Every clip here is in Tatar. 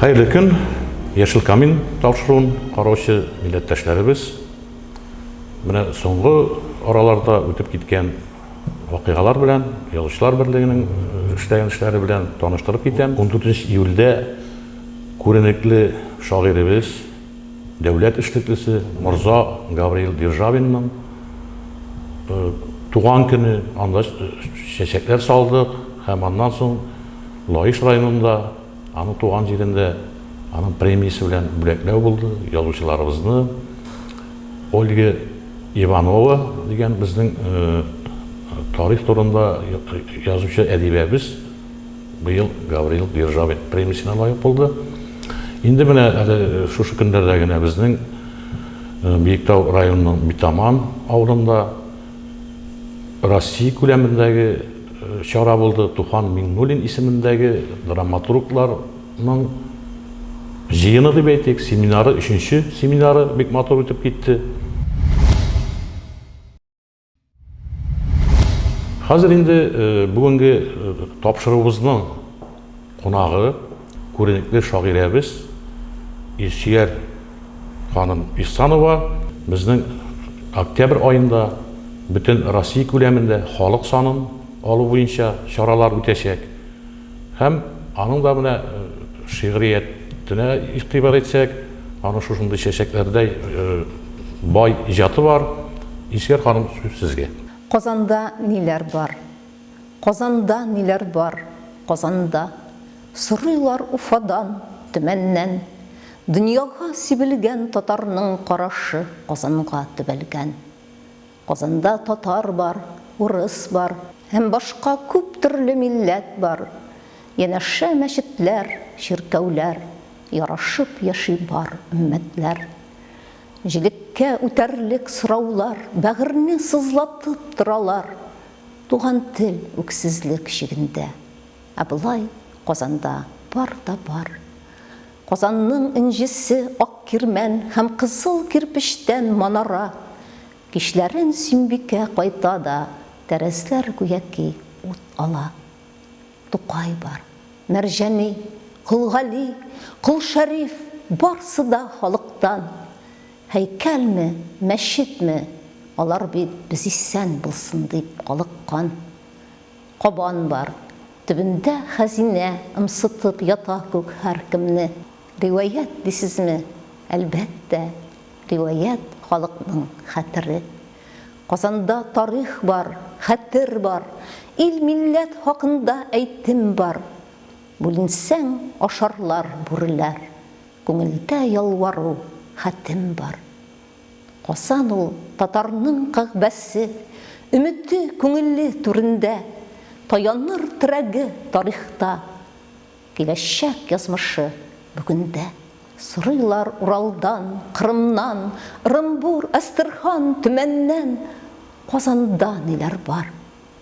Хәерле көн, Яшел камин тапшыруын караучы милләттәшләребез. Менә соңгы араларда үтеп киткән вакыйгалар белән, язучылар берлегенең эшләгән эшләре белән таныштырып китәм. 14 июльдә Күренекле шагыйребез, дәүләт эшлеклесе морза Гавриил Державинның туган көне, анда чәчәкләр салдык һәм аннан соң Лаеш районында, аның туган җирендә аның премиясе белән бүләкләү булды. Язучыларыбызны Ольга Иванова дигән безнең тарих турында язучы әдибәбез, Быел Гаврил Державин премиясенә лаек булды. Инде менә әле шушы көннәрдә генә безнең Биектау районының Битаман авылында Россия күләмендәге чара булды. Туфан Миңнуллин исемендәге драматургларның җыены дип әйтик, семинары, өченче семинары бик матур үтеп китте. Хәзер инде бүгенге тапшыруыбызның кунагы күренекле шагыйрәбез Илсөяр ханым Ихсанова безнең октябрь аенда бөтен Россия күләмендә халык санын алу буенча чаралар үтәчәк. Һәм аның да менә шигъриятенә игътибар итсәк, аның шушындый чәчәкләрдәй бай иҗаты бар. Илсөяр ханым, сүз сезгә. Казанда ниләр бар? Казанда ниләр бар, Казанда? Сорыйлар Уфадан, Төмәннән. Дөньяга сибелгән татарның карашы Казанга төбәлгән. Казанда татар бар, урыс бар. Һәм башка күп төрле милләт бар. Янәшә мәчетләр, чиркәүләр. Ярашып яши бар өммәтләр. Җегеткә үтәрлек сораулар. Бәгырьне сызлатып торалар. Туган тел үксезлек чигендә. Ә болай Казанда бар да бар. Казанның энҗесе, ак кирмән һәм кызыл кирпечтән манара. Кичләрен Сөембикә кайта да, тәрәзләр гүяки ут ала. Тукай бар. Мәрҗани, Кол Гали, Кол Шәриф, барсы да халыктан. Һәйкәлме, мәчетме, алар бит без исән булсын дип калыккан. Кабан бар. Төбендә хәзинә Ымсытып ята күк һәркемне. Риваять дисезме? Әлбәттә, риваять, халыкның хәтере. Казанда тарих бар, хәтер бар, Ил-милләт хакында әйтем бар. Бүленсәң, ашарлар бүреләр, Күңелдә ялвару, хәтем бар. Касан ул татарның кагъбәсе, Өмете, күңеле түрендә Таяныр терәге тарихта, Киләчәк язмышы бүгендә? Сорыйлар Уралдан, Кырымнан, Ырымбур, Әстерхан, Төмәннән, Казанда ниләр бар?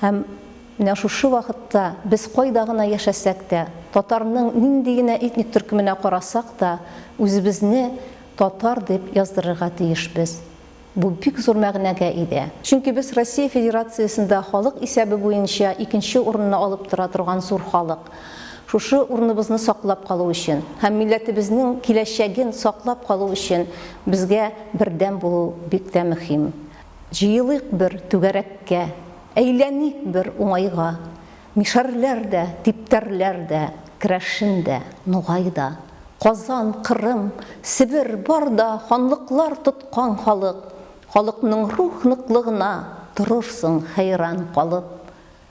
Һәм менә шушы вакытта без кайда гына яшәсәк тә, татарның нинди генә этник төркеменә карасак та, үзебезне татар дип яздырырга тиешбез. Бу бик зур мәгънәгә иде. Чөнки без Россия Федерациясендә халык исәбе буенча икенче урынны алып тора торган зур халык. Шушы урыныбызны саклап калу өчен һәм милләтебезнең киләчәген саклап калу өчен безгә бердәм булу бик тә мөһим. Җыелыйк бер түгәрәккә, Әйләник бер уңайга, Мишәрләр дә, типтәрләр дә, Керәшен дә, нугай да. Казан, Кырым, Себер, бар да Ханлыклар тоткан халык, Халыкның рух ныклыгына Торырсың хәйран калып.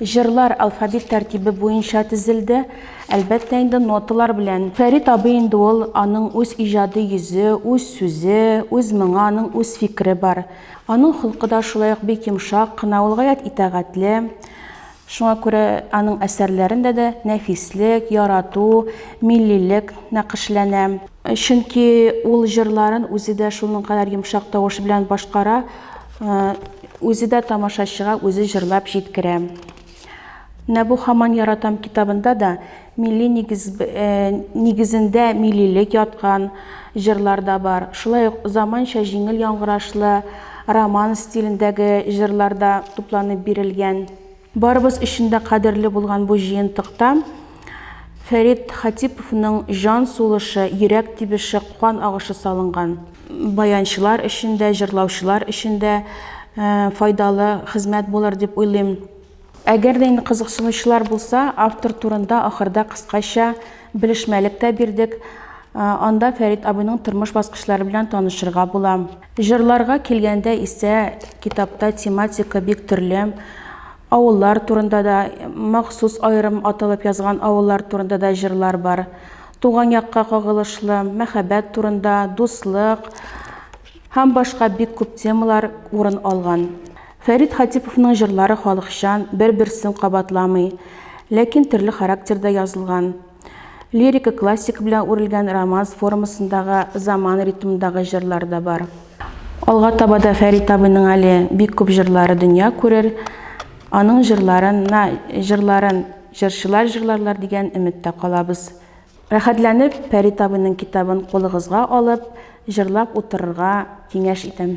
Җырлар алфавит тәртибе буенча тезелде, әлбәттә инде, ноталар белән. Фәрит абый инде ул, аның үз иҗади йөзе, үз сүзе, үз моңы, аның үз фикере бар. Аның холкы да шулай ук бик йомшак кына, ул гаять итагатьле. Шуңа күрә аның әсәрләрендә дә нәфислек, ярату, миллилек нәкышләнә. Чөнки ул җырларын үзе дә шуның кадәр йомшак тавыш белән башкара. Үзе дә тамашачыга үзе җырлап җиткерә. Менә бу Хаман яратам китабында да милли нигез, нигезендә милилек яткан җырлар да бар. Шулай ук заманча җиңел яңгырашлы романс стилендәге җырлар да тупланып бирелгән. Барыбыз өчен дә кадерле булган бу җыентыкта Фәрит Хатиповның җан сулышы, йөрәк тибеше, кан агышы салынган. Баянчылар өчен дә, җырлаучылар өчен дә файдалы хезмәт булыр дип уйлыйм. Әгәр дә инде кызыксынучылар булса, автор турында ахырда кыскача Белешмәлек тә бирдек. Анда Фәрит абыйның тормыш баскычлары белән танышырга була. Җырларга килгәндә исә, китапта тематика бик төрле. Авыллар турында да, махсус аерым аталып язган авыллар турында да җырлар бар. Туган якка кагылышлы, мәхәббәт турында, дуслык һәм башка бик күп темалар урын алган. Фәрит Хатиповның җырлары халыкчан, бер-берсен кабатламый, ләкин төрле характерда язылган. Лирика классика белән үрелгән романс формасындагы заман ритмындагы җырлар да бар. Алга таба да Фәрит абыйның әле бик күп җырлары дөнья күрер, аның җырларына җырларын җырчылар җырларлар дигән өметтә калабыз. Рәхәтләнеп Фәрит абыйның китабын кулыгызга алып, җырлап утырырга киңәш итәм.